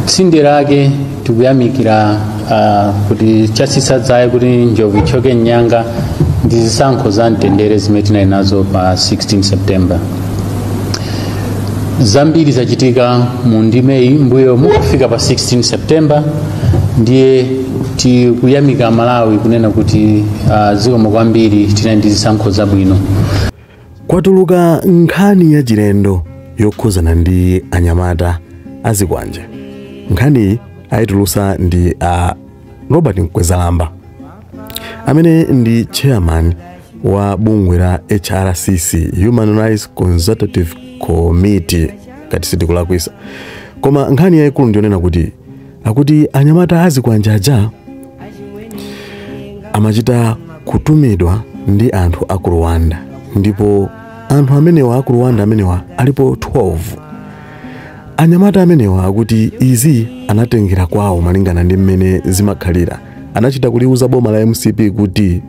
tsinde lake tikuyamikira ah, kuti chatsitsa dzaye kuti njovu ithyoke mnyanga ndi zisankho za mtendere zimene tinali nazo pa 16 september zambiri zachitika mu ndimeyi mbuyo mukufika pa 16 september ndiye tikuyamika malawi kunena kuti ah, zikomo kwambiri tinali ndi zisankho zabwino Kwatuluka nkhani yachilendo yokhuzana ndi anyamata azikwanje. Nkhaniyi ayitulusa ndi a Robert Mkwezalamba amene ndi chairman wa bungwe la HRCC Human Rights Consultative Committee ngati sindikulakwisa. Koma nkhani yayikulu ndiyonena kuti akuti anyamata azikwanje aja amachita kutumidwa ndi anthu a ku rwanda ndipo anthu amenewa a ku rwanda amenewa alipo 12 anyamata amenewa akuti izi anatengera kwawo malingana ndi mmene zimakhalira anachita kuliuza boma la mcp kuti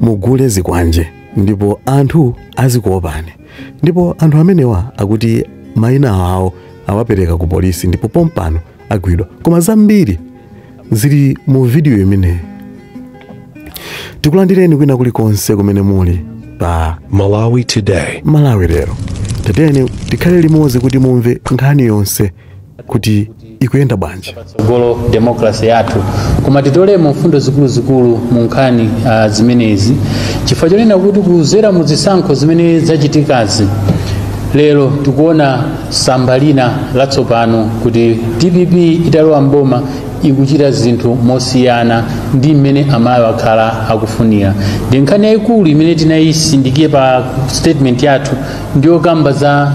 mugule zikwanje ndipo anthu azikuopani ndipo anthu amenewa akuti mayina awo awapereka ku polisi ndipo pompano agwidwa koma zambiri zili mu vidiyo imeneyi tikulandireni kwina kulikonse kumene muli pa Malawi Today. malawi lero tatiyeni tikhale limodzi kuti mumve nkhani yonse kuti ikuyenda bwanji patsogolo democracy yathu koma titolemo mfundo zikuluzikulu mu nkhani uh, zimenezi chifukwa chonena kuti kuzera mu zisankho zimene zachitikazi lero tikuona tsamba lina latsopano kuti dpp italowa mboma ikuchita zinthu mosiyana ndi mmene amalawi akhala akufunira ndi nkhani yayikulu imene tinayitsindika pa statement yathu ndi yokamba za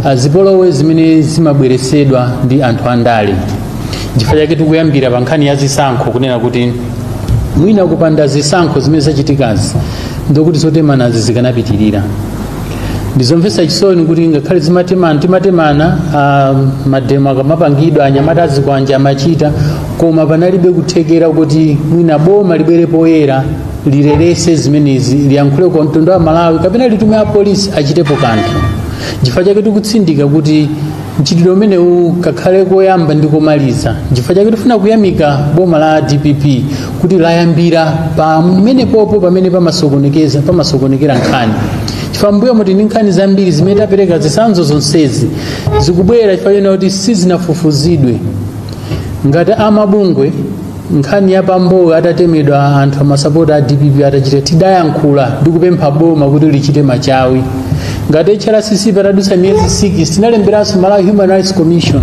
ah, zipolowe zimene zimabweretsedwa ndi anthu andale chifukwa chake tikuyambira pa nkhani ya zisankho kunena kuti mwina kupanda zisankho zimene zachitikazi ndiye kuti zotemanazi zikanapitirira ndizomvetsa chisoni kuti ngakhale zimatemana timatemana ah, mademo akamapangidwa anyamata azikwanje amachita koma panalibe kuthekera kuti mwina boma libwere poyera liletse zimenezi liyankhule kwa mtundu wa malawi kapena litume apolisi achitepo kanthu chifukwa chake tikutsindika kuti mchitidwe umenewu kakhale koyamba ndi komaliza chifukwa chake tifuna kuyamika boma la dpp kuti layambira pomwepo pamene pamasokonekeza pamasokonekera nkhani chifukwa mbuyomu tili ndi nkhani zambiri zimene tapereka zitsanzo zonsezi zikubwera chifukwa chonena kuti sizinafufuzidwe ngati amabungwe nkhani ya pambowe atatemedwa anthu amasapota a dpp atachita tidayankhula ndi kupempha boma kuti lichite machawi ngati hrcc patadutsa miyezi 6 tinalemberanso malawi human rights commission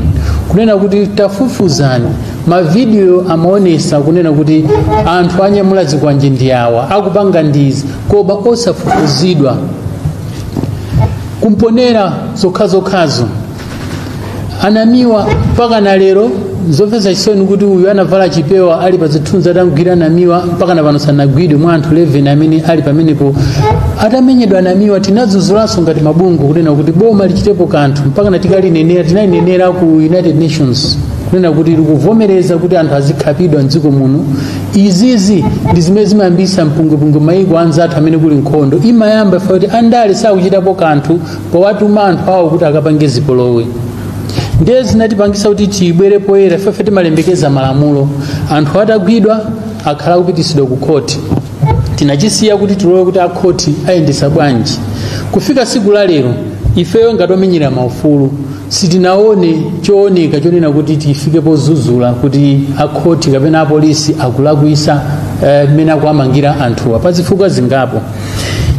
kunena kuti tafufuzani mavidiyo amaonesa kunena kuti anthu anyamula zikwanje ndi awa akupanga ndizi koma osafufuzidwa kumponela zokhazokhazo anamiwa mpaka na lero zomvetsa chisoni kuti uyu anavala chipewa ali pa zithunzi atagwira anamiwa mpaka na pano sanagwidwe mwa anthu 11 amene ali pamenepo atamenyedwa anamiwa tinadzudzulanso ngati mabungwe kunena kuti boma lichitepo kanthu mpaka na tikalinenera tinalinenera ku united nations kunena kuti likuvomereza kuti anthu azikhapidwa mdziko muno izizi ndi zimene zimayambisa mpungwepungwe maiko anzathu amene kuli nkhondo imayamba ifa kuti andale sakuchitapo kanthu powatuma anthu awo kuti akapange zipolowe ndiye zinatipangisa kuti tibwere poyera ifefe timalemekeza malamulo anthu atagwidwa akhala kupitisidwa ku khoti tinachisiya kuti tilowe kuti akhoti ayendesa bwanji kufika siku la lero ifeyo ngati omenyera maufulu sitinaone chooneka chonena kuti tifike pozuzula kuti akhoti kapena apolisi akulakwisa mmene eh, akuwamangira anthuwa pa zifukwa zingapo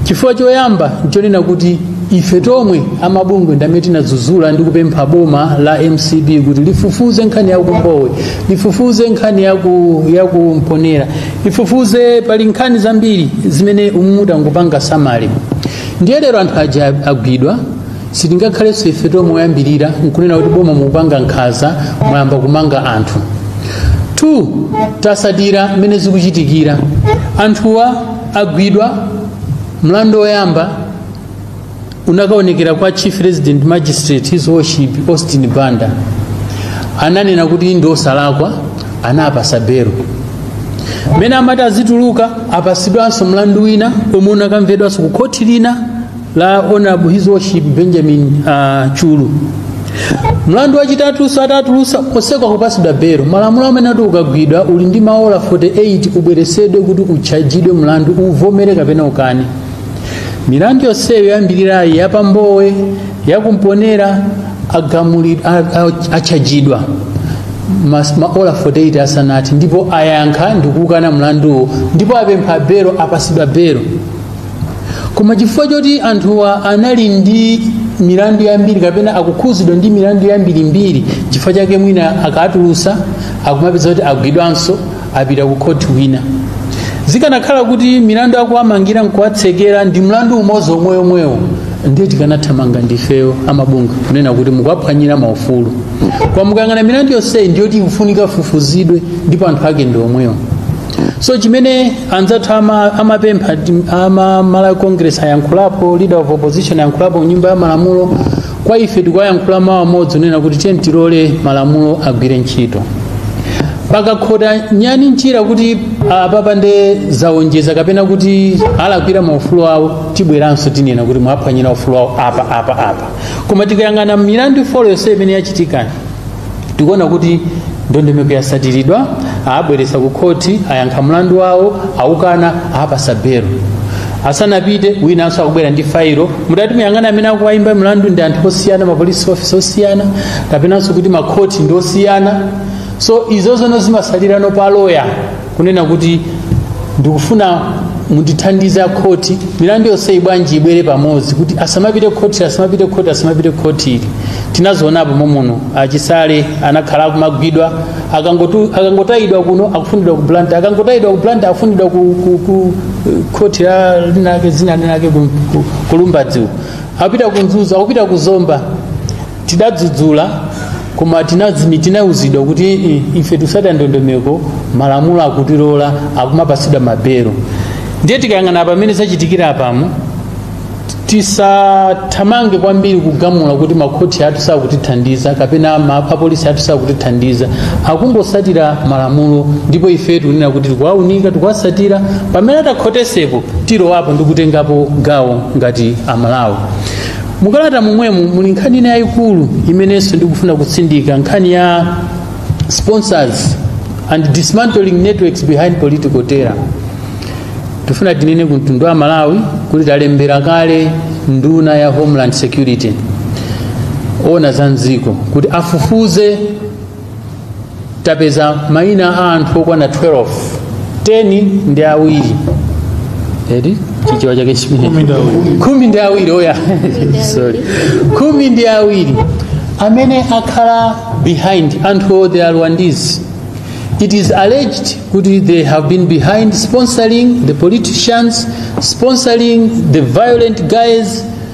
chifukwa choyamba nchonena kuti ife tomwe amabungwe ndamene tinadzudzula ndi kupempha boma la mcp kuti lifufuze nkhani yakumbowe lifufuze nkhani yaku- yakumponera lifufuze pali nkhani zambiri zimene mutangopanga summary ndiye lero anthu aja agwidwa sitingakhalenso ife tomwe oyambirira nkunena kuti boma mukupanga nkhaza mwayamba kumanga anthu 2 tasatira mmene zikuchitikira anthuwa agwidwa mlandu woyamba unakaonekera kwa chief resident magistrate his worship austin banda ananena kuti ndi osalakwa anapasa belo mmene amati azituluka apasidwanso mlandu wina omwe unakamvedwanso ku khoti lina la Honorable His Worship Benjamin uh, Chulu mlandu wachitatuso atatulusa oseka kupasidwa belo malamulo amanena kuti ukagwidwa uli ndi maola 48 ubweresedwe kuti utchajidwe mlandu uvomere kapena ukane milandu yonseyo yoyambirirayi yapambowe yakumponera agamuli- a- a- atchajidwa mas- maola 48 asanathe ndipo ayankha ndikukana mlanduwo ndipo apempha belo apasidwa belo koma chifukwa choti anthuwa anali ndi milandu yambiri kapena akukhuzidwa ndi milandu yambirimbiri chifukwa chake mwina akatulusa akumapeza kuti agwidwanso apita ku khoti wina zikanakhala kuti milandu akuwamangira nkuwatsekera ndi mlandu umodzi omweyomwewo ndiye tikanathamanga ndifeyo amabungwe kunena kuti mukuwaphwanyira maufulu koma mukayang'ana milandu yonseyi ndiyoti ikufunika ifufuzidwe ndipo anthu ake ndi omwewo so chimene anzathu ama, amapempha ti- ama malawi congress ayankhulapo leader of opposition ayankhulapo nyumba ya malamulo kwa ife tikuyankhula mawu amodzi kunena kuti tiye tilole malamulo agwire ntchito pakakhota nyani mchira kuti apapa nde zaonjeza kapena kuti awalakwira maufulu awo tibweranso tinena kuti mwaphwanyira ufulu awo apa apa apa koma tikayang'ana milandu ifolo yonse imene yachitikani tikuona kuti ndondomeko yasatiridwa abweresa ku khoti ayankha mlandu wawo aukana awapasa belo asanapite winanso akubwera ndi failo mutati muyang'ane amene akuwayimba mlandu ndi anthu osiyana mapolisi ofisi osiyana kapenanso kuti makhoti ndi osiyana so izo zono zimasalirano pa loya kunena kuti ndikufuna mundithandize akhoti milandu yonseyi bwanji ibwere pamodzi kuti asamapite khoti asamapite khoti asamapite khoti tinazionapo momuno a Chisale anakhala akumagwidwa akangotu- akangotayidwa kuno akufunidwa ku blantyre akangotayidwa ku blantyre akufunidwa ku, ku, ku khoti linalake zina linake ku, ku, ku lumbadzi uko. akupita ku mzuzu akupita ku zomba tidadzudzula koma tinazimi tinauzidwa kuti "Mm, ife tusata ndondomeko malamulo akutilola akumapatsidwa mabelo ndiye tikayang'ana pamene zachitikira apamo tisathamange kwambiri kugamula kuti makhoti athu sakutithandiza kapena ma- apolisi athu sakutithandiza akungosatira malamulo ndipo ife tikunena kuti tikuwaunika tikuwasatira pamene atakhotesepo tilowapo ndi kutengapo gawo ngati amalawi mukalata momwemo muli nkhani ina yayikulu imenenso ndikufuna kutsindika nkhani ya sponsors and dismantling networks behind political terror tifuna tinene ku mtundu wa malawi kuti talembera kale nduna ya homeland security yoona za mdziko kuti afufuze tapeza mayina a anthu okwana 12 10 ndi awiri edi chichewa chake chimenecho khumi ndi awiri oya sorry khumi ndi awiri amene akhala behind anthuwo they are rwandese it is alleged kuti they have been behind sponsoring the politicians sponsoring the violent guys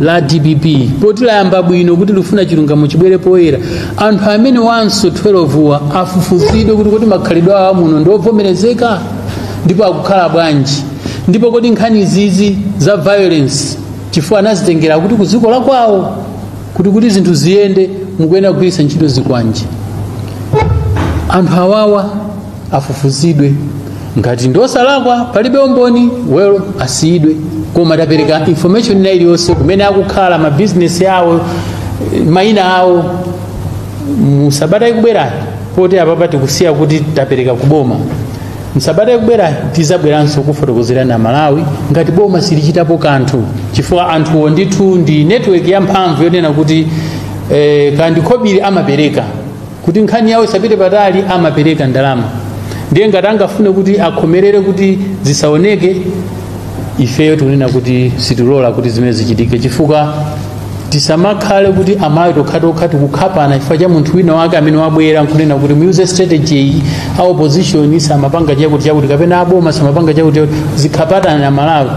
la dpp poti layamba bwino kuti likufuna chilungamo chibwere poyera anthu amenewanso 12 wa afufuzidwe kuti kodi makhalidwe awo muno ndi obvomerezeka ndipo akukhala bwanji ndipo kodi nkhani izizi za violence chifukwa anazitengera kuti ku dziko la kwawo kuti kuti zinthu ziyende mukuyenera kugwiritsa ntchito zikwanje anthu awawa afufuzidwe ngati ndi osalakwa palibe umboni well asiyidwe koma tapereka information ina iliyonse kumene akukhala mabizinesi awo eh, mayina awo musabata ikubwerayi poti apapa tikusiya kuti tapereka kuboma msabata ikubwerayi tizabweranso kufotokozera amalawi ngati boma silichitapo kanthu chifukwa anthuwo ndithu ndi network yamphamvu yonena kuti eh, kandikhobiri amapereka kuti nkhani yawo isapite patali amapereka ndalama ndiye ngati angafune kuti akhomerere kuti zisaoneke ifeyo tikunena kuti sitilola kuti zimenezi zichitike chifukwa tisamakhale kuti amalawi tokhatokha tikukhapana chifukwa cha munthu wina wake amene wabwera nkunena kuti muyuze strategy iyi a opposition samapanga chakuti chakuti kapena aboma samapanga chakuti chakuti tizikhapana amalawi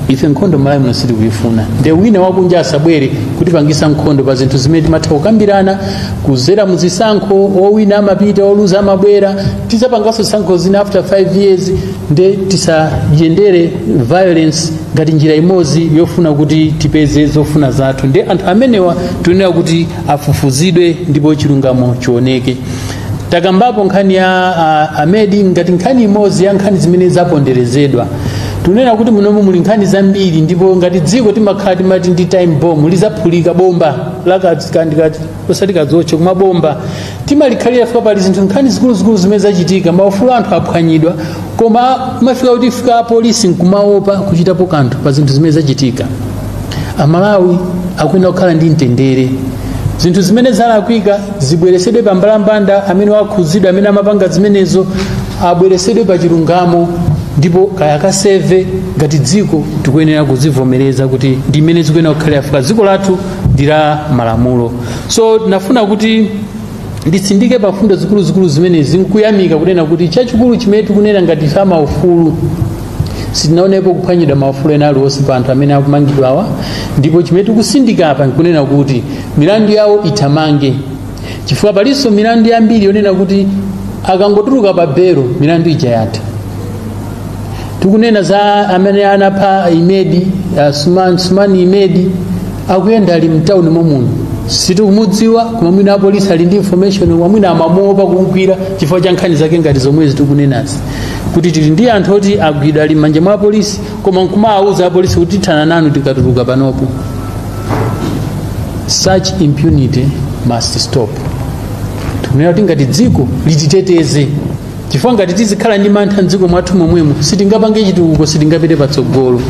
ife nkhondo malawi muno sitikuyifuna nde wina wakunja asabwere kutipangisa nkhondo pa zinthu zimene timatha kukambirana kuzera muzisankho owina amapita oluza amabwera tizapangaso zisankho zina after 5 years nde tisayendere violence ngati njira imodzi yofuna kuti tipeze zofuna zathu nde anthu amenewa tunena kuti afufuzidwe ndipo chilungamo chioneke takambapo nkhani ya uh, amedi ngati nkhani imodzi ya nkhani zimene zaponderezedwa tunena kuti munomu muli nkhani zambiri ndipo ngati dziko timakhala timati ndi time bomb lizaphulika bomba lakati osati kadzotche koma bomba timalikhalira chifukwa pali zinthu nkhani zikuluzikulu zimene zachitika maufulu a anthu aphwanyidwa kumafika kuti fika apolisi nkumaopa kuchitapo kanthu pa zinthu zimene zachitika amalawi akuyenera kukhala ndi mtendere zinthu zimene zalakwika zibweresedwe pa mbalambanda amene wakhudzidwa amene amapanga zimenezo abweresedwe pa chilungamo ndipo kaya akaseve ngati dziko tikuyenera kuzivomereza kuti ndi mmene zikuyenera kukhalira chifukwa dziko lathu ndi la malamulo so ndinafuna kuti nditsindike pa mfundo zikuluzikulu zimenezi nkuyamika kunena kuti chachikulu chimene tikunena ngati a za maufulu sitinaonepo kuphwanyidwa maufulu ena aliwonse pa anthu amene akumangidwawa ndipo chimene tikutsindika apa nkunena kuti milandu yawo ithamange chifukwa palinso milandu yambiri yonena kuti akangotuluka pa belo milandu ija yatha tikunena za amene anapha imedi uh, sumani, sumani imedi akuyenda ali mtawuni momuno sitikumudziwa koma mwina apolisi ali ndi information koma mwina amamuopa kumgwira chifukwa cha nkhani zake ngati zomwezi tikunenazi kuti tili ndi anthu oti agwidwa ali m'manja mwa apolisi koma nkumawawuza apolisi kuti tithana nanu tikatuluka panopo such impunity must stop tikunena kuti ngati dziko lititeteze chifukwa ngati tizikhala ndi mantha mdziko mwathu momwemo sitingapange chitukuko sitingapite patsogolo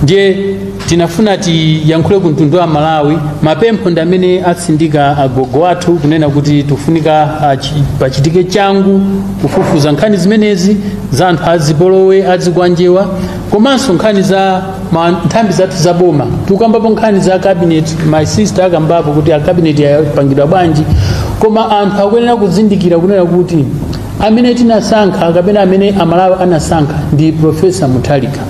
ndiye tinafuna tiyankhule ku mtundu wa malawi mapempho ndi amene atsindika agogo athu kunena kuti tifunika achi- pachitike changu kufufuza nkhani zimenezi za anthu azipolowe azikwanjewa komanso nkhani za ma- nthambi zathu za boma tikukambapo nkhani za cabinet my sister akambapo kuti a cabinet yapangidwa bwanji koma anthu akuyenera kuzindikira kunena kuti amene tinasankha kapena amene amalawi anasankha ndi profesa mutharika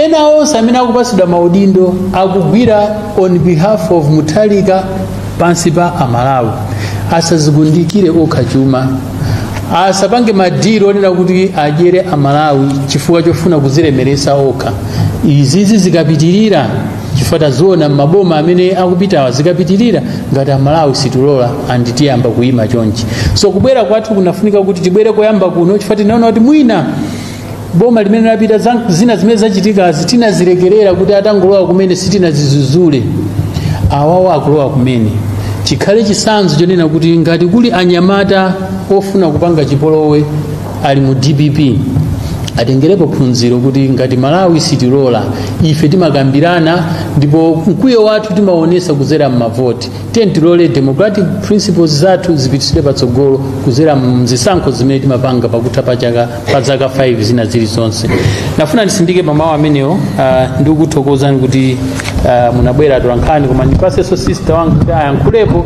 ena onse amene akupatsidwa maudindo akugwira on behalf of mutharika pansi pa amalawi asazikundikire okha chuma asapange madili onena kuti adyere amalawi chifukwa chofuna kuzilemeresa okha izizi zikapitirira chifukwa taziona mmaboma amene akupitawa zikapitirira ngati amalawi situlola andi tiyamba kuyima chonchi so kubwera kwathu kunafunika kuti tibwere koyamba kuno chifukwa tinaona kuti mwina boma limene lapita za- zina zimene zachitikazi tinazilekerera kuti atangolowa kumene sitinazizuzule awawa akulowa kumene chikhale chitsanzo chonena kuti ngati kuli anyamata ofuna kupanga chipolowe ali mu dpp atengerepo phunziro kuti ngati malawi sitilola ife timakambirana ndipo mkwiyo wathu timaonesa kuzera mmavoti tiyeni tilole democratic principles zathu zipititsidwe patsogolo kuzera mzisankho zimene timapanga pakutha pa chaka pa zaka 5 zina zilizonse ndinafuna nditsindike pamawu amenewo uh, ndikuthokozani kuti uh, munabwera atolankhani koma ndipasenso sister wanga kuti ayankhulepo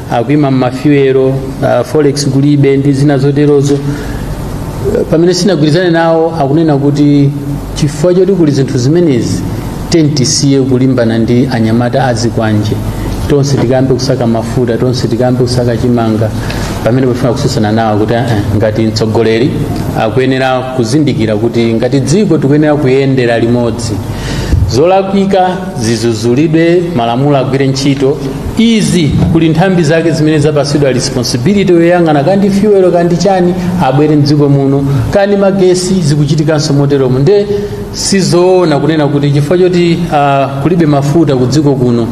akuima mmafiwero uh, forex kulibe ndi zina zoterozo Eh, pamene sindinagwirizane nawo akunena kuti chifukwa choti kuli zinthu zimenezi tiyeni tisiye kulimbana ndi anyamata azikwanje tonse tikayambe kusaka mafuta tonse tikayambe kusaka chimanga pamene pofuna kutsutsana nawo kuti eh, ngati mtsogoleri akuyenera kuzindikira kuti ngati dziko tikuyenera kuyendera limodzi zolakwika zizuzulidwe malamulo agwire ntchito izi kuli nthambi zake zimene zapatsidwa responsibility yoyang'ana kandi fuel kandi chani abwere mdziko muno kandi magesi zikuchitikanso moteromo nde sizoona kunena kuti chifukwa choti uh, kulibe mafuta ku dziko kuno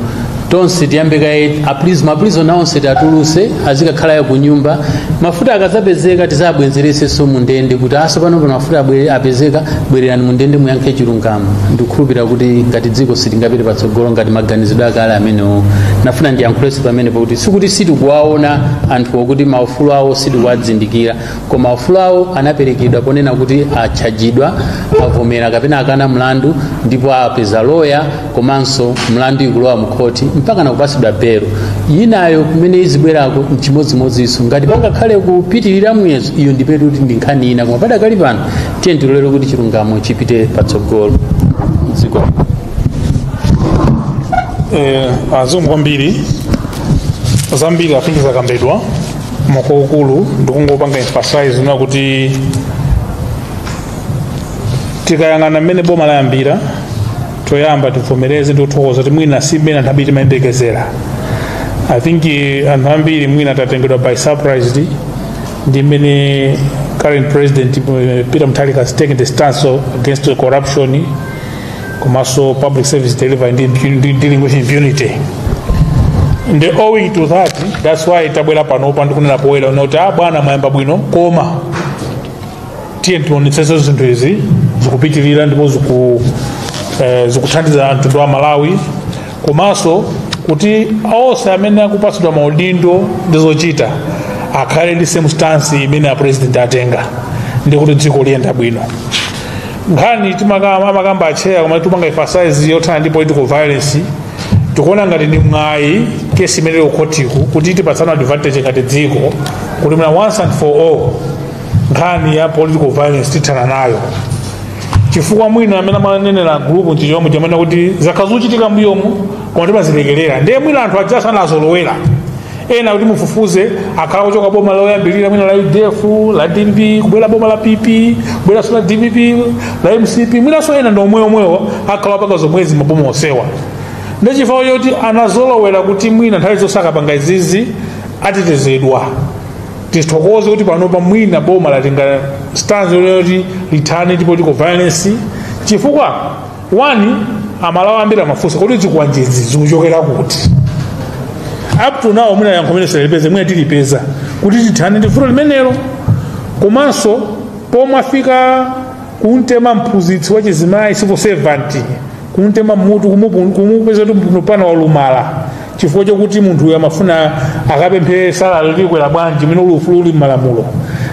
tonse tiyambe kaye a prisoners ma prisoners onse tiatuluse azikakhala ya kunyumba mafuta akazapezeka tizabwenzeresenso mu ndende kuti aso pano mafuta apezeka bwererani mu ndende muyankhe chilungamo ndikukhulupirira kuti ngati dziko sitingapite patsogolo ngati maganizidwe akale amenewo nafuna ndiyankhulenso pamene pakuti sikuti sitikuwaona anthuwo kuti maufulu awo sitikuwazindikira koma maufulu awo anaperekedwa ponena kuti atchajidwa avomera kapena akana mlandu ndipo apeza loya komanso mlandu ukulowa mkhoti mpaka nakupatsidwa belo yinayo kumene izibwerako mchimodzimodzinso ngati pangakhale kupitirira muyezo iyo ndipetu kuti ndi nkhani ina koma padakali pano tiyeni tilolere kuti chilungamo chipite patsogolo zikomo kwambiri zambiri I think zakambidwa mwakuukulu ndikungopanga emphasize ndi kuti tikayang'ana mmene boma layambira choyamba tivomereze ndi kuthokoza kuti mwina si mmene anthu ambiri timayembekezera i think eh, anthu ambiri mwina tatengedwa by surprise ndi mmene current president eh, peter mutharika has taken the stance of- against the corruption komanso public service delivery ndi impu- ndi dealing with impunity and owing to that that's why tabwera panopa ndi kunena poyera kuti ah bwana mwayamba bwino koma tiyeni tionetsetse zinthu izi zikupitirira ndipo ziku eh, zikuthandiza mtundu wa Amalawi komanso kuti onse amene akupatsidwa maudindo ndi zochita akhale ndi same stance imene a president atenga ndi kuti dziko liyenda bwino nkhani amakamba atcheya koma timapanga emphasize yothana ndi political violence tikuona ngati ndi mwayi kesi imene ili kukhotiku kuti tipatsane advantage ngati dziko kuti mwina once and for all nkhani ya political violence tithana nayo chifukwa mwina amene amanenera gulupu nchifukwa chonena kuti zakhala zikuchitika mbuyomu koma timazilekerera ndiye mwina anthu aja anazolowera ena kuti mufufuze akhala kuchoka boma loyambirira mwina la udf la dpp kubwera boma la pp kubweranso la dpp la mcp mwinanso ena ndi omweomwewo akhala akupanga zomwezi maboma onsewa ndi chifukwa choti anazolowera kuti mwina nthawi zonse akapanga izizi atetezedwa tithokoze kuti panopa mwina boma latenga stance yoti lithane ndi political violence chifukwa wani Amalawi ambiri amafunsa kodi zikwanjezi zikuchokera kuti up to now mwina yankho limene sanalipeze mwina tilipeza kuti tithane ndi vuto limenelo komanso pomwe afika kumtema mphunzitsi wa chizimayi civil servant kumtema mutu kumupu- kumupeza kuti munthu pano walumala chifukwa chokuti munthuyo amafuna akapemphere salale likwera bwanji mene uli ufulu uli m'malamulo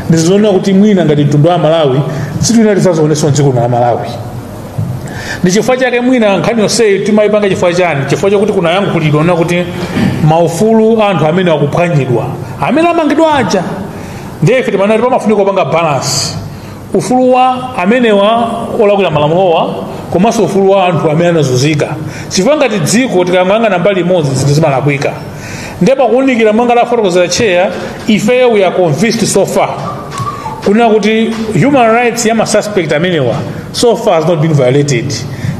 ndizoona kuti mwina ngati mtundu wa malawi sitina tidzazionenso mdziko la malawi ndi chifukwa chake mwina nkhani yonseyi timayipanga chifukwa chani chifukwa chakuti kunayankhulidwa kuna kuti maufulu anthu amene akuphwanyidwa amene amangidwa aja ndiye ife timanati pamafunika kupanga balance ufulu wa amenewa olakwira malamulowa komanso ufulu wa anthu amene anazunzika chifukwa ngati dziko tikayang'ana mbali imodzi zinthu zimalakwika ndipo pakuwunikira monga wafotokozera cheya ifeyo we are convinced so far kunena kuti human rights ya masuspect amenewa so far has not been violated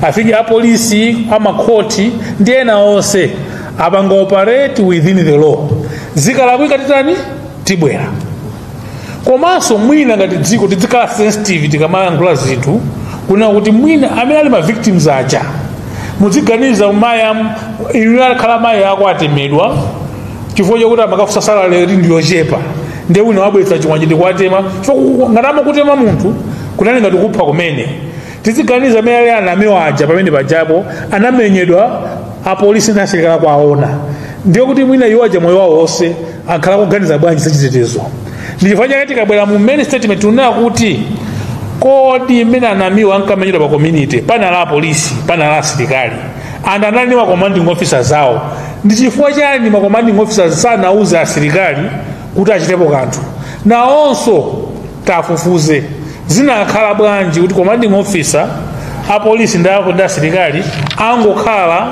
i think apolisi amakhoti ndi ena onse apangaoperate within the law zikalakwika titani tibwera komanso mwina ngati dziko tidzikhala sensitive tikamayankhula zinthu kuna kuti mwina amene ali ma victims aja muziganiza mayi am- inu akhala mayi ako atemedwa chifukwa chakuti amakafunsa salale kuti ndiyochepa nde wina wabweretsa chikwanje ndikuwatema chifukwa ngati amakutema munthu kunali ngati kupha kumene tiziganiza amene ali anamiwa aja amene pajapo anamenyedwa apolisi ndi asilikali akuona ndiye kuti mwina iwo aja moyo wawo wonse akhala kuganiza bwanji zachitetezo ndi chifukwa chake tikabwera mu main statement tunena kuti kodi mmene anamiwa ankamenyedwa pa community panali apolisi panali asilikali and anali ndi makomanding officer zawo ndi chifukwa chani makomanding officer sanauze asilikali kuti achitepo kanthu nawonso tafufuze zinakhala bwanji kuti commanding officer apolisi ndi aku- ndi asilikali angokhala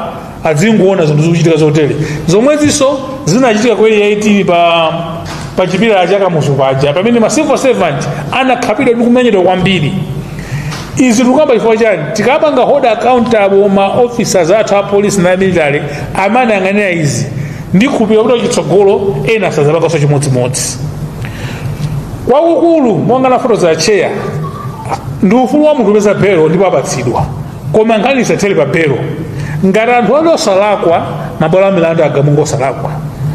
adzingoona zinthu zikuchitika zotere zomwezinso zinachitika ku Area 18 pa pa chipilala cha kamuzu paja pamene ma civil servant anakhapidwa ndi kumenyedwa kwambiri izi tikukamba chifukwa chani tikapanga hold accountable ma officers athu a polisi na military amayang'anira izi ndikhulupirira kuti kutsogolo ena sadzapanganso chimodzimodzi kwakukulu monga anafotokoza cheya ndi ufulu wa munthu kupeza belo ndipo apatsidwa koma nkhani isathere pa belo ngati anthu ali osalakwa mabwalo a milandu akagamula osalakwa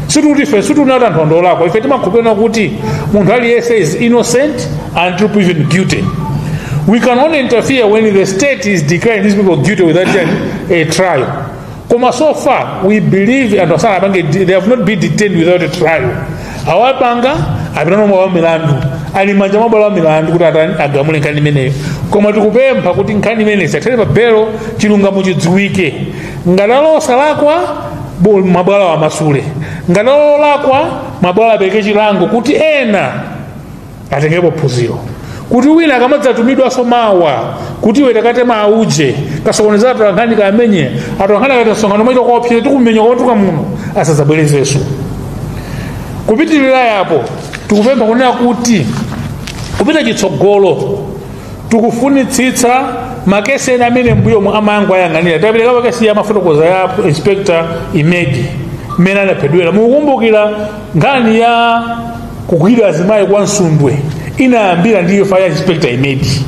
situti ife situna kuti anthu andolakwa ife timakhulupirira kuti munthu aliyense is innocent until proven guilty we can only interfere when the state is declaring these people guilty without a trial koma so far we believe anthu asala apange they have not been detained without a trial awapanga apita nawo mabwalo a milandu ali m'manja mwa bwalo la milandu kuti atani agamule nkhani imeneyo koma tikupempha kuti nkhani imeneyi isathele pa belo chilungamo chidziwike ngati alosalakwa bo- mabwalo amasule ngati alolakwa mabwalo apereke chilango kuti ena atengerepo phunziro kuti wina akamadzatumidwanso mawa kuti iwe ukateme auje kasokoneza atolankhani kamenye atolankhani akati msonkhano aita kawaopseze tikumenya kwatuka muno asadzabwerezenso kupitirira yapo tikupempha kunena kuti kupita chitsogolo tikufunitsitsa makesi ena amene mbuyo mu amangoayang'anira tapereka case ija amafotokoza ya inspector imedi mmene anaphedwera mukukumbukira nkhani ya kugwiririra azimayi kwa msundwe inayambira ndi imfa ya inspector imedi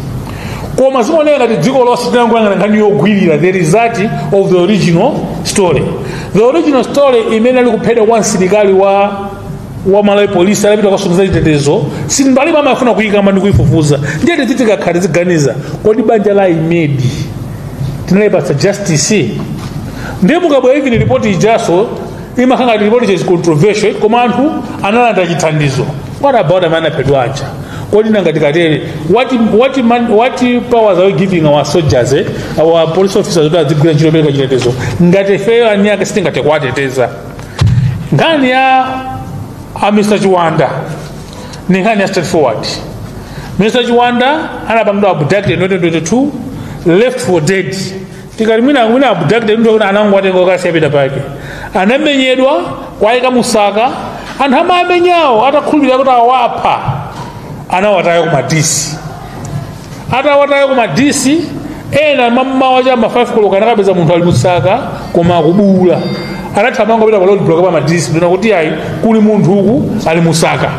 koma zinaoneka ngati dziko lonse tinangoyang'ana nkhani yogwirira the result of the original story the original story imene ali kuphedwa kwa msilikali wa wa malawi polisi anapita kwasonyeza chitetezo simbali amafuna kuyikamba ndi kuyifufuza ndiye tizitikakhala tiziganiza kodi banja la imedi tinalipatsa justice ndiye mukabwera even report ijaso imakhala ngati report is controversial koma anthu analandira chithandizo what about amene anaphedwa aja kodi nanga tikatere what, what, man, what powers are we giving our soldiers eh? our police officers kuti adzigwira ntchito yopereka chitetezo ngati ifeyo eni ake sitingathe kuwateteza nkhani ya a mr chiwanda ndi nkhani ya straightforward mr chiwanda anapangidwa abducted in 2022 left for dead tikati mwina mwina abducted muti kuti anangowatenga okasi apita pake anamenyedwa kuwayika musaka anthu amamenyawo atakhulupirira kuti awapha anawataya ku madisi atawataya ku madisi ena mammawa cha ma 5 koloko anakapeza munthu ali musaka koma akubuula anathamanga kupita pa road block pa madisi ndikunena kuti ayi kuli munthu uku ali musaka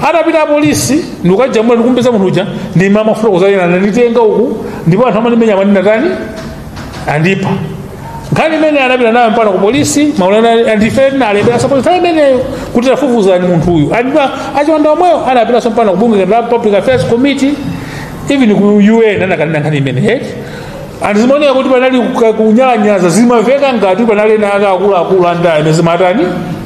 atapita apolisi ndikukamasula ndikumpeza munthu uja ndi kumafotokoza ine ananditenga uku ndipo anthu amandimenya amanena tani andipha nkhani imene anapita nayo mpaka ku polisi ma lawyer ndife tina alembera apolisi imeneyo kuti tafufuzani munthu uyu ndipo achiwanda omweyo anapitanso mpaka ku bungwe la public affairs committee even ku un anakanena nkhani imene eti anthu zimaoneka kuti panali kuka- kunyalanyaza zimaveka ngati panali ena ake akuluakulu a ndale amene zimatani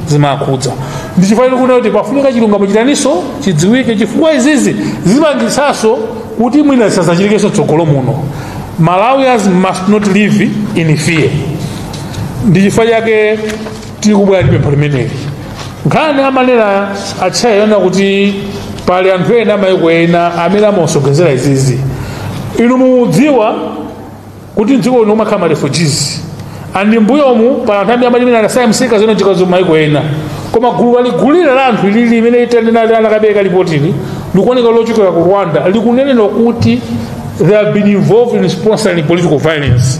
zimakhudza ndi chifukwa tikuti pafunika chilungamo chitaninso chidziwike chifukwa izizi zipangitsanso kuti mwina zisadzachitikenso mtsogolo muno malawians must not live in fear ndi chifukwa chake tikubwera ndi pempho limeneli nkhani amanena atcheya yonena kuti pali anthu ena amayiko ena amene amasonkhezera izizi inu mudziwa kuti mdziko lino mumakhala ma refugees and mbuyomu pali anthu amene amene anasaya msika zinachitikanso mayiko ena koma gulu lalikulu la anthu ilili limene itanena anakapereka lipotili likuoneka lochokera ku rwanda likunenedwa kuti they have been involved in sponsoring political violence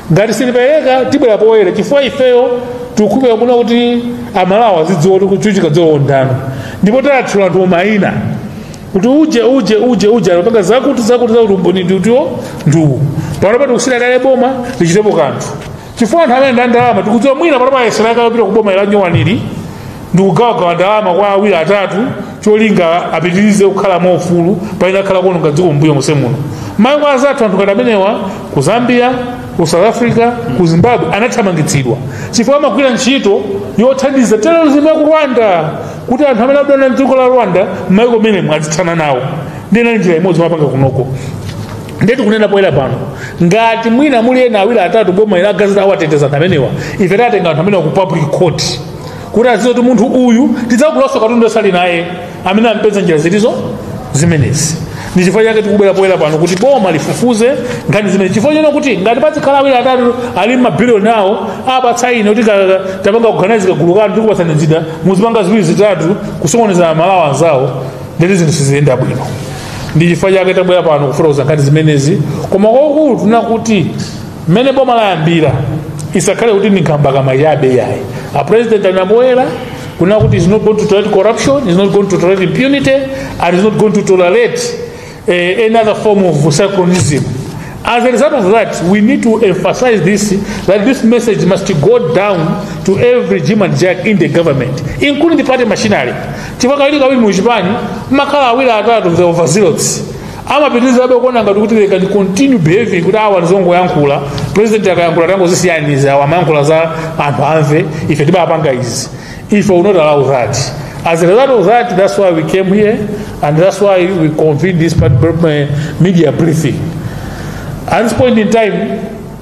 ngati sapereka tibwera poyera chifukwa ifeyo tikufuna kuti amalawi azidziwa kuti tikuvutika chifukwa cha ndani ndipo tatchula anthu mayina kuti uje uje uje uje anapanga zakuti zakuti zakuti umboni ndi uti ndi uwu panopa tikusiyira kale boma lichitepo kanthu chifukwa anthu amene ali ndi ndalama tikudziwa mwina panopa ayesera kale kupita kuboma ili lanyuwanili ndikugawagawa ndalama kwa awiri atatu cholinga apitirize kukhala mwaufulu pamene akhala kuononga dziko mbuyo muse muno maiko azathu anthu ngati amenewa ku zambia ku south africa ku zimbabwe anathamangitsidwa chifukwa amagwira ntchito yothandiza terrorism ya ku rwanda kuti anthu amene akudana ndi dziko la rwanda mmaiko mmenemo azithana nawo ndinali njira imodzi amapanga kunoko ndiye tikunena poyera pano ngati mwina muli ena awiri atatu boma ili akadzati awateteza anthu amenewa ife tiwatenga anthu amenewa ku public court kuti adziwe kuti munthu uyu tisadzagulenso katundu amene ali naye amene wampeza njira zilizo zimenezi ndi chifukwa chake tikubwera poyera pano kuti boma lifufuze nkhani zimene chifukwa chinthu choti ngati pazikhala awiri atatu ali mabiliyoni awo apatsa ine kuti ka- ka- tapangani organize kagulu kanu tikupatsani njira muzipanga ziwiri zitatu kusokoneza amalawi anzawo ndiye kuti zinthu siziyenda bwino ndi chifukwa chake tabwera pano kufotokoza nkhani zimenezi koma kwakulu tikufuna kuti mmene boma layambira isakhale kuti ndi nkhambakamwa chabe ayi a president anabwera kunena kuti is not going to tolerate corruption is not going to tolerate impunity and is not going to tolerate eh, any other form of secularism as a result of that we need to emphasize this that this message must go down to every jim and jack in the government including the party machinery chifukwa kawiri kawiri mu chipani mumakhala awiri atatu the overzealots amapitirizabe kuona ngati kuti they can continue behaving kuti awa ndi zongoyankhula president akayankhula tangozisiyani izi awa amayankhula zoti anthu amve ife timapanga izi we will not allow that as a result of that that's why we came here and that's why we convened this part- uh, media briefing at this point in time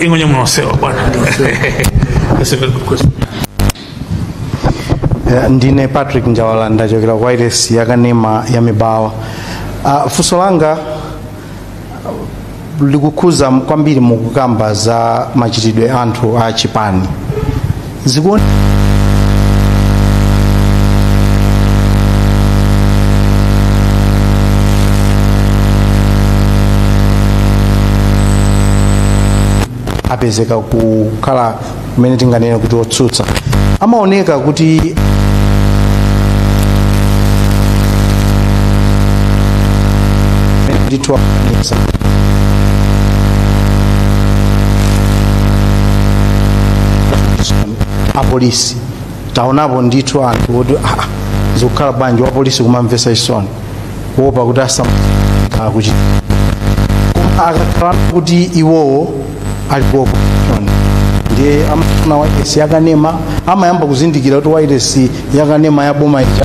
ingonye munosewa bwana Eh, ndine patrick njawala ndachokera ku wailesi yakanema ya mibawa uh, funso langa uh, likukhuza kwambiri mukukamba za machitidwe anthu a chipani apezeka kukhala kumene tinganene kuti otsutsa amaoneka kuti ndithu akanika apolisi taonapo ndithu anthu oti "Ah, ah, zikukhala bwanji wapolisi kumamvesa chisoni kuopa kuti asakuchita akakhala kuti iwowo ali ku opposition ndiye amafuna wailesi yakanema amayamba kuzindikira kuti wailesi yakanema ya boma ija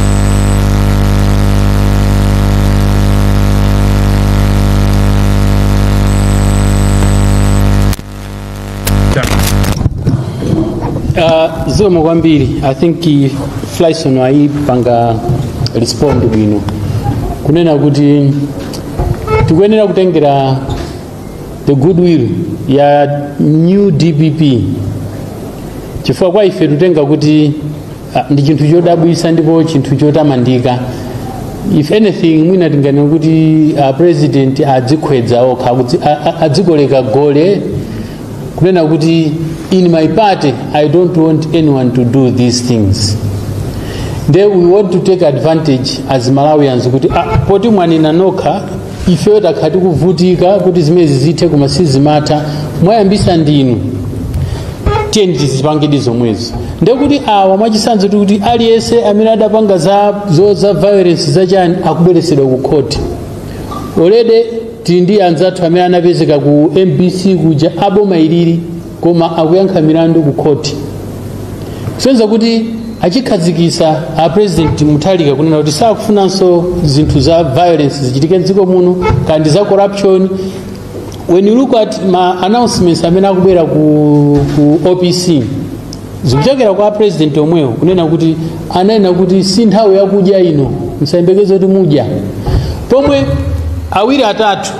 Uh, zikomo kwambiri i think i- flyson wayipanga respond bwino kunena kuti tikuyenera kutengera the goodwill ya new dpp chifukwa kwa ife tikutenga kuti Ah, ndi chinthu chodabwisa ndipo chinthu chotamandika if anything mwina tinganene kuti a president adzikhwedza okha akudzi- a- a- adzikoleka gole kunena kuti in my party i don't want anyone to do these things nde we want to take advantage as malawians kuti ah, poti mwanena nokha ifeyo takhala tikuvutika kuti zimenezi zithe koma sizimatha mwayambisa ndinu tiyeni tizipangadi zomwezi ndekuti awa mwachisanzo tikuti aliyense amene adapanga za zo za violence zachani akubweresedwa ku khoti already tili ndi anzathu amene anapezeka ku mbc kuja aboma ilili koma akuyankha milandu ku khoti kusonyeza kuti achikhazikisa a president muthalika kunena kuti sakufunanso zinthu za violence zichitike mdziko muno komanso za corruption when you look at ma announcements amene akubwera ku, ku opc zikuchokera kwa a president omwewo kunena kuti ananena kuti si nthawi yakudya ino musayembekeze kuti mudya pomwe awiri atatu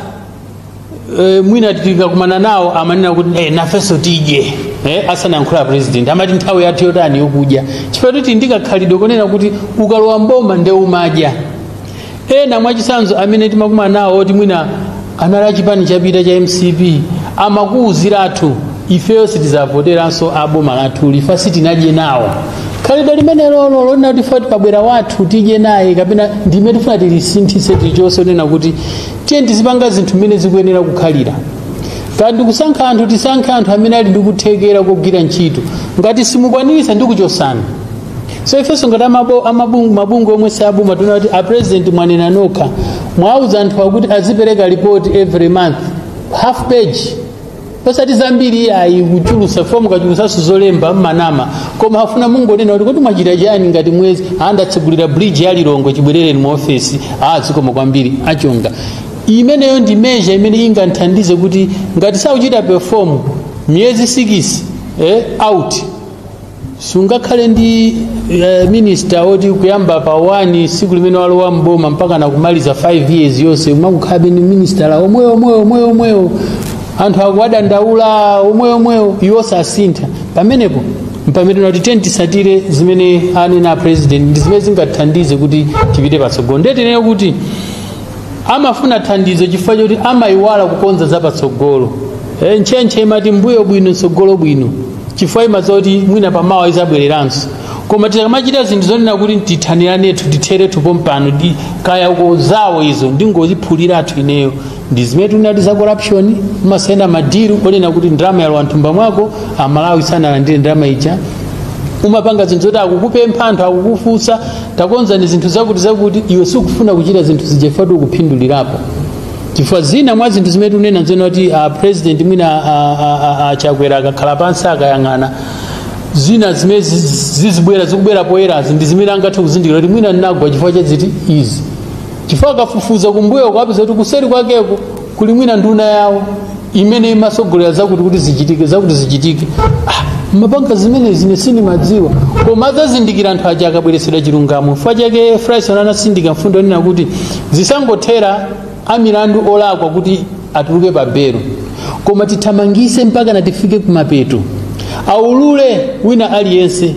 e, mwina tikakumana nawo amanena kuti e, nafenso tidye e, asanayankhula president amati nthawi yathu yotani yokudya chifukwa kuti ndikakhalidwe konena kuti ukalowa mboma nde umadya ena mwachisanzo amene timakumana nawo oti mwina anali achipani chapita cha mcp amakuwuzirathu ifeyo sitizavoteranso aboma lathu chifukwa sitinadye nawo khalidwe limene lolo lonena kuti poti pabwera wathu tidye naye kapena ndi limene tifuna tilisinthise tilichose onena kuti tiye tizipanga zinthu mmene zikuyenera kukhalira kaya ndikusankha anthu tisankhe anthu amene ali ndi kuthekera kogwira ntchito ngati simukwaniritsa ndi kuchotsana so ifenso ngati amabo- amabungwe mabungwe omwe si aboma tinaona kuti a president mwanena nokha mwauza anthu akuti azipereka report every month half page osati zambiri iyayi kuchulutsa fo mukachulutsanso zolemba mmanama koma hafu mungonena kuti kuti mwachita chani ngati mwezi andatsegulira bridge ya lilongwe chibwerereni mu ofesi ah zikomo kwambiri achonga imeneyo ndi measure imene inganthandize kuti ngati sakuchita perform miyezi sikisi eh, out sungakhale ndi uh, minista oti kuyamba pa 1 tsiku limene walowa mboma mpaka nakumaliza 5 years yonse umakukhalabe ndi minista omwewo omwewo omwewo omwewo anthu akuwadandaula omwewo omwewo iwo sasintha pamenepo mpamene tinati tiyeni titsatire zimene anena a president ndi zimene zingathandize kuti tipite patsogolo ndiye tinene kuti amafuna thandizo chifukwa choti amayiwala kukonza zapatsogolo e, ntchentche imati mbuyo bwino tsogolo bwino chifukwa imadziwa kuti mwina pamawa idzabwereranso koma tikamachita zinthu zonena kuti tithaniranethu titherethu pompano kaya uko zawo izo ndingodziphuliratu ineyo ndi zimene tinati za corruption umasayina madiru onena kuti ndalama yalowa mthumba mwako amalawi sanalandire ndalama ija umapanga zinthu zoti akukupempha anthu akukufunsa takonzani zinthu zakuti zakuti iwe sikufuna kuchita zinthu zija ifetu ukuphindulirapo chifukwa zina mwa zinthu zimene tikunena nzonena kuti a president mwina a- a- a- a chakwera akakhala pansi akayang'ana zina zimene zi- zi- zizibwera zikubwera poyerazi ndi zimene angathe kuzindikira kuti mwina ndinagwa chifukwa cha ziti izi chifukwa akafufuza kumbuyo kwapeza kuti kuseri kwakeko kuli mwina nduna yawo imene imatsogolera zakuti kuti zichitike zakuti zichitike ah, amapanga zimenezi ine sindimadziwa koma adzazindikira anthu aja akabweretsedwa chilungamo chifukwa chake frison anatsindika mfundo yonena kuti zisangothera amilandu olakwa kuti atuluke pa belo koma tithamangise mpaka natifike kumapeto aulule wina aliyense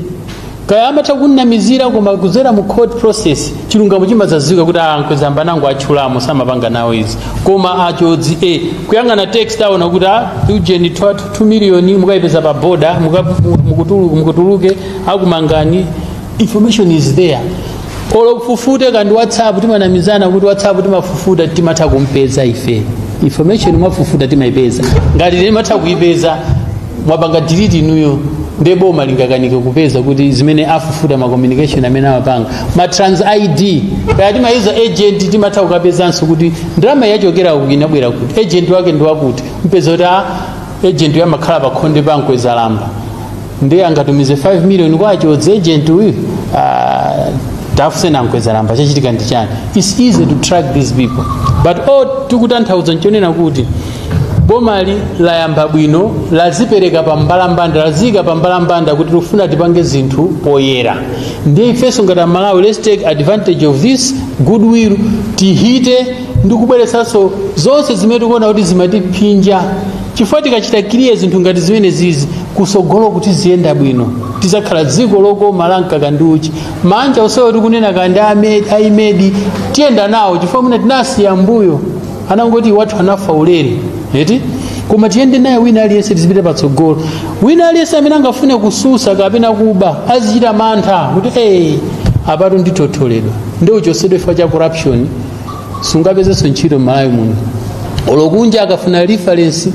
kaya amatha kumnamizira koma kudzera mu court process chilungamo chimadzadziwika kuti a nkwezalamba anangowatchulamo samapanga nawo izi koma akhothi e kuyang'ana text aona kuti a ujeni 2 million mukayipeza pa boda mukatulutse akumangani information is there olo ufufute kaya ndi whatsapp timanamizana kuti whatsapp timafufuta timatha kumpeza ife information mwafufuta timaipeza ngati timatha kuipeza mwapanga delete inuyo nde boma lingakanike kupeza kuti zimene afufuta ma communication amene amapanga ma trans id kaya timayitsa agent timatha kukapezanso kuti ndalama yachokera kuti inabwera kuti agent wake ndi wakuti mupeza kuti agent yo amakhala pa khonde pa mkwezalamba ndiye angatumize 5 million kwa che agent uyu ah, tafuse a Nkhwezalamba chachitika ndi chani its easy to track these people but all tikutanthauza nchonena kuti bomali layamba bwino lazipereka pa mbalambanda laziyika pa mbalambanda kuti tikufuna tipange zinthu poyera ndiye ifenso ngati amalawi let's take advantage of this goodwill tihite ndi kubweretsanso zonse zimene tikuona kuti zimatiphinja chifukwa tikachita clear zinthu ngati zimene zizi kusogolo kuti ziyenda bwino tizakhala dziko lokoma la mkaka ndi uchi manja osewo tikunena kandi Ahmed tiyenda nawo chifukwa mwina tinasiya mbuyo anangoti wathu anafa ulere eti koma tiyende naye wina aliyense tizipite patsogolo wina aliyense amene angafune kusolola kapena kuba azichita mantha kuti ee apatu nditotholedwa ndichosedwe chifukwa cha corruption siungapezenso ntchito m'malawi muno olo kunja akafuna reference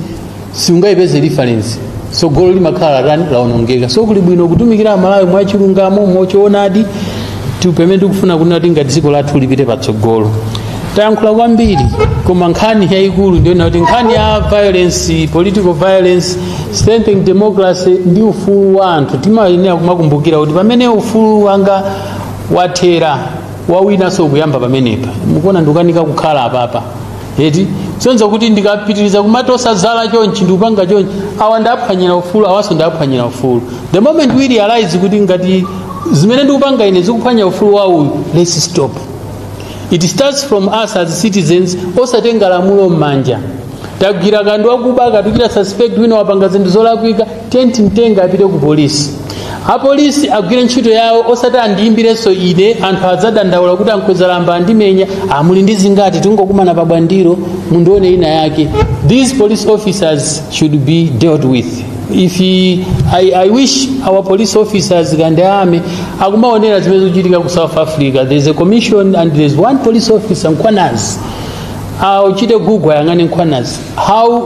siungayipeze reference sogolo limakhala latani laonongeka so kuli bwino kutumikira amalawi mwachilungamo mwachoonadi ndi pamene tikufuna kunena kuti ngati dziko lathu lipite patsogolo tayankhula kwambiri koma nkhani yayikulu ndiyona kuti nkhani ya violence political violence strengthening democracy ndi ufulu wa anthu timayenera kumakumbukira kuti pamene ufulu wanga wathera wawinaso ukuyamba pamenepa mukuona ndikukanika kukhala apapa eti zosonyeza kuti ndikapitiriza kumatosa zala chonchi ndikupanga chonchi awa ndaphwanyira ufulu awaso ndaphwanyira ufulu the moment we realize kuti ngati zimene ndikupanga ine zikuphwanya ufulu wa uyu let's stop it starts from us as citizens osatenga lamulo m'manja tagwira kaya ndi wakuba kaya tuchita suspect wina wapanga zinthu zolakwika tiye timtenge apite ku polisi apolisi agwire ntchito yawo osati andiyimbirenso ine anthu adzadandaula kuti a Nkhwezalamba andimenya amvekere uli ndi zingati tingokumana pa bwandiro mundione ina yake these police officers should be dealt with if he, I, i wish our police officers kaya ndani amene akumaonera zimene zikuchitika ku south africa there is a commission and there is one police officer Mkhwanazi achite google ayang'ane Mkhwanazi how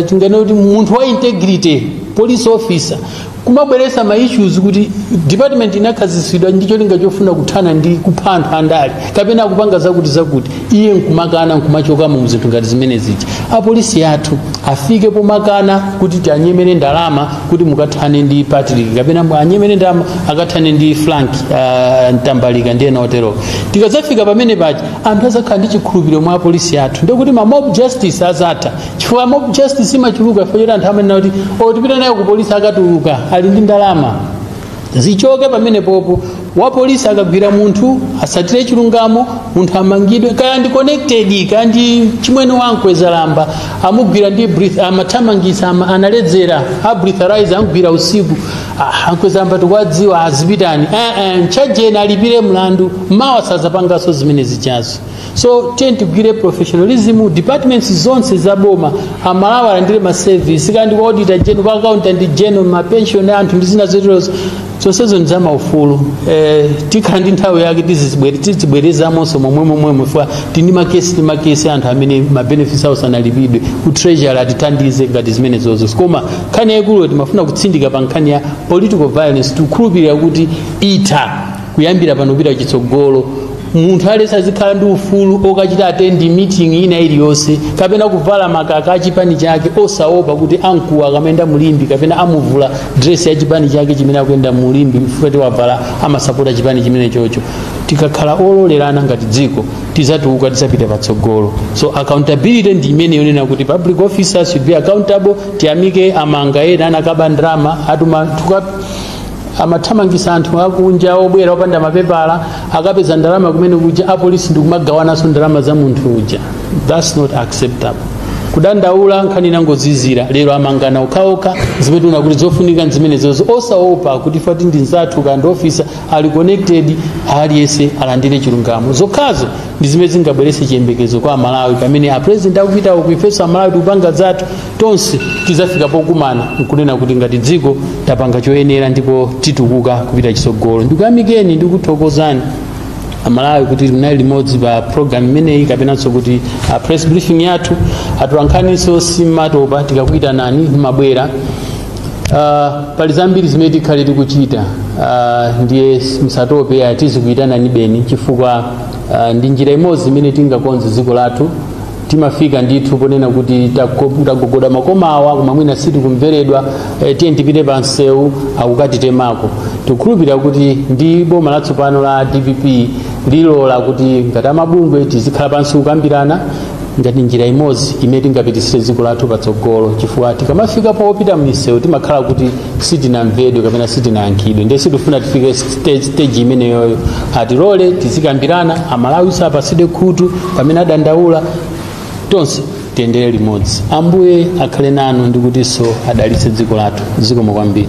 tinganene kuti munthu wa integrity police officer kumabweresa ma issues kuti department inakhazikitsidwa ndi cholinga chofuna kuthana ndi kupha anthu andale kapena kupanga zakuti zakuti iye nkumakana nkumachokamo muzinthu ngati zimene zija apolisi athu afike pomakana kuti tiwanyemere ndalama kuti mukathane ndi patrick kapena awanyemere ndalama akathane ndi frank uh, mtambalika ndi ena otero tikadzafika pamene paja anthu azakhala ndi chikhulupiriro mwa apolisi athu ndikuti ma mob justice azatha chifukwa mob justice imachuluka chifukwa choti anthu amanena kuti o tipita nayo ku polisi akatuluka ali ndi ndalama zichoke pamene popo wapolisi akagwira munthu asatire chilungamo munthu amangidwe kaya ndi connected kaya ndi chimwene wa nkweza lamba amugwira ndi breath amathamangisa ama, analedzera a breathalyzer amugwira usiku aha ankweza lamba tikuwadziwa azipitani eh, eh, mtchajeni alipire mlandu mawa sazapanganso zimene zijazo so tiye tigwire professionalism departments zonse za boma amalawi alandire maservice kaya ndi kwa auditor general kwa accountant general mapension a anthu ndi zina zoterozo zonsezo ndi zamaufulu eh, tikhala ndi nthawi yake tizizibwere- tizibwerezamonso momwe momwemo chifukwa tili ndi makesi ndi makesi anthu amene mabenefits awo sanalipidwe ku treasury atithandize ngati zimenezozo koma nkhani yaikulu timafuna kutsindika pa nkhani ya political violence tikukhulupirira kuti itha kuyambira pano kupita chitsogolo munthu aliyense azikhala ndi ufulu okachita attend meeting ina iliyonse kapena kuvala makaka a chipani chake osaopa kuti amkuwa akamayenda mu Limbe kapena amuvula dress ya chipani chake chimene akuyenda mu Limbe chifukwa choti wavala amasapota chipani chimene chocho tikakhala ololerana ngati dziko tizatukuka tizapita patsogolo so accountability ndi imene yonena kuti public officers should be accountable tiyamike amanga ena anakaba ndalama atuma tuka amathamangisa anthu akunja obwera opanda mapepala akapeza ndalama kumene kuja apolisi ndikumagawananso ndalama za munthu uja thats not acceptable kudandaula nkhani inangozizira lero amangana okhaokha zimene tiwone kuti zofunika nzimenezozo osaopa kuti chifukwa choti ndi nzathu kaya ndi ofisa ali connected aliyense alandire chilungamo zokhazo ndi zimene zingabweretse chiyembekezo kwa amalawi pamene apurezidenti akupita uku ifenso amalawi tikupanga zathu tonse tizafika pokumana nkunena kuti ngati dziko tapanga choyenera ndipo titukuka kupita chitsogolo ndikuyamikeni ndikuthokozani amalawi kuti munali limodzi pa program imeneyi kapenanso kuti a press briefing yathu atolankhaniso simumatopa tikakuyitanani mumabwera Uh, pali zambiri zimene tikhale tikuchita uh, ndiye musatope tizikuyitanani be chifukwa Ah, ndi njira imodzi imene tingakonze dziko lathu timafika ndithu ponena kuti tako- tagogoda makoma awa koma mwina sitikumveredwa eh, tiyeni tipite pa msewu akukatitemako tikukhulupirira kuti ndi boma latsopano la dpp lilola kuti ngati amabungwe tizikhala pansi kukambirana ngati njira imodzi imene tingapititsire dziko lathu patsogolo chifukwa tikamafika popita m'misewu timakhala kuti sitinamvedwe kapena sitinayankhidwe ndiye sitifuna tifike stage, stage imeneyoyo atilole tizikambirana amalawinso apatsidwe khutu pamene adandaula tonse tiyendere limodzi ambuye akhale nanu ndikutinso adalitse dziko lathu zikomo kwambiri